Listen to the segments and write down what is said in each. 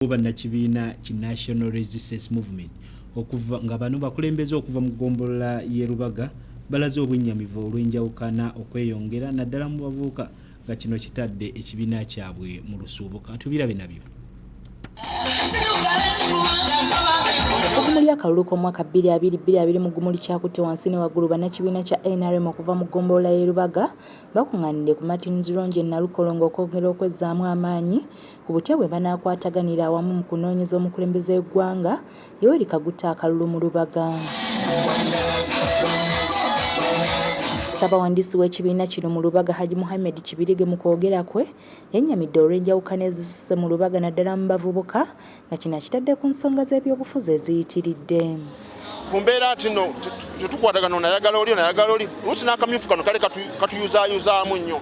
waliwo bannakibiina ki national resistance movement okuva nga bano bakulembeze okuva mu ggombolola y'e lubaga balaze obwennyamivu olw'enjawukana okweyongera naddala mu bavubuka nga kino kitadde ekibiina kyabwe mu lusuubuka tubirabe nabyo okumuli akalulu k'omwaka 2222 mu gumuli kyakutte wansi ne waggulu bannakibiina kya nrm okuva mu ggombolola y'erubaga bakuŋŋaanidde ku martins ronge nalukolongo okwongera okwezzaamu amaanyi ku butya bwe banaakwataganira awamu mu kunoonyeza omukulembeze w'eggwanga Yoweri Kaguta akalulu mu Lubaga. Ssabawandiisi w'ekibiina kino mu Lubaga Haji Muhammed Kibirige mu kwogera kwe yennyamidde olw'enjawukana ezisusse mu Lubaga naddala mu bavubuka nga kino akitadde ku nsonga z'ebyobufuzi eziyitiridde. ku mbeera nti no tetukwatagana onayagala oli onayagala oli luusi n'akamyufu kano kale katuyuzaayuzaamu nnyo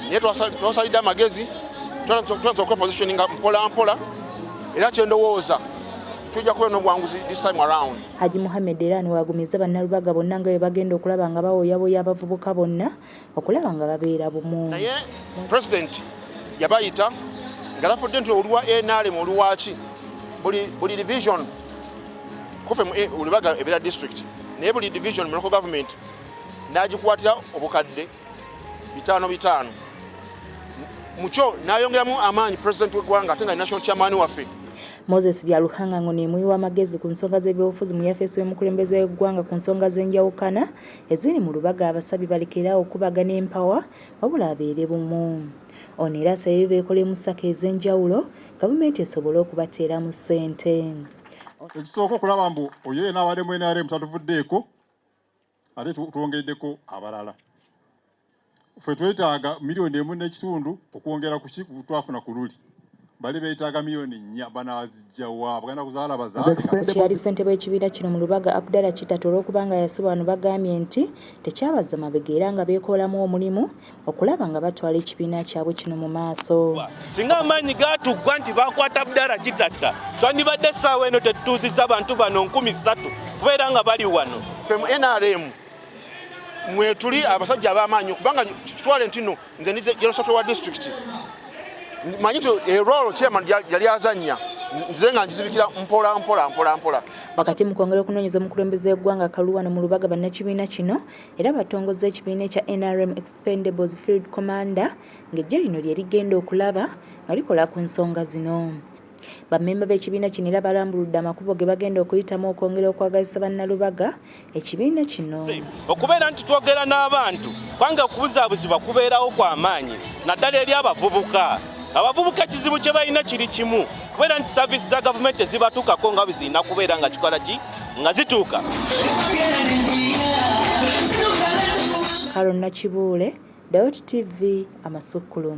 naye twasalidde amagezi tuanza okwepositioninga mpola mpola era kyendowooza tujja kubeera n'obwanguzi this time around haji muhammed era niwagumizza bannalubaga bonna nga bwe bagenda okulaba nga bawoyaboya abavubuka bonna okulaba nga babeera bumu naye president yabayita nga lafudde nti oluwa nrm oluwaki buli division kufe eh, olubaga ebeera district naye buli division mulocal government nagikwatira obukadde bitaano bitaano mukyo nayongeramu amaanyi president wegwanga ate nga national chairman waffe moses byaluhanga ngo nemuyiwa amagezi ku nsonga z'ebyobufuzi mu yafeesi w'omukulembeze w'eggwanga ku nsonga z'enjawukana eziri mu lubaga abasabye balekeraawo okubagana empawa wabula abeere bumu. Ono era asabye beekolemu sako ez'enjawulo gavumenti esobole okubateeramu ssente. Ekisooka okulaba mbu oyo yena abadde mu NRM tatuvuddeeko ate twongeddeko abalala. ffe twetaaga miliyoni emu n'ekitundu okwongera ku twafuna ku luli bali beetaaga miliyoni nnya banaazijjawa bagenda kuzaala bazaalakyeyali ssentebe w'ekibiina kino mu lubaga abdala kitata olw'okuba nga yasibwa bano bagambye nti tekyabaza mabega era nga beekoolamu omulimu okulaba nga batwala ekibiina kyabwe kino mu maaso singa amaanyi gaatuggwa nti baakwata abdala kitatta twandibadde essaawa eno tetutuuzizza bantu bano nkumi ssatu kubeera nga bali wano ffe mu nrm mwetuli abasajja abamaanyi kubanga kitwale ntino nze ndi general secretary wa district manyi ti erolo eh, chairman yali azanya nze nga nkizibikira mpola mpola mpola mpola wakati mu kwongera okunoonyeza omukulembeze w'eggwanga kaluwano mu lubaga bannakibiina kino era batongozza ekibiina ekya nrm expendables field commander ng'eggye lino lye rigenda okulaba nga likola ku nsonga zino Bammemba b'ekibiina kino era balambuludde amakubo ge bagenda okuyitamu okwongera okwagazisa Bannalubaga ekibiina kino. Okubeera nti twogera n'abantu kubanga okubuzaabuzibwa kubeerawo kwa maanyi naddala eri abavubuka. Abavubuka ekizibu kye balina kiri kimu kubeera nti saaviisi za gavumenti tezibatuukako nga bwe zirina kubeera nga kikola ki nga zituuka. Karo Nakibuule, Dawoti TV, Amasukkulumu.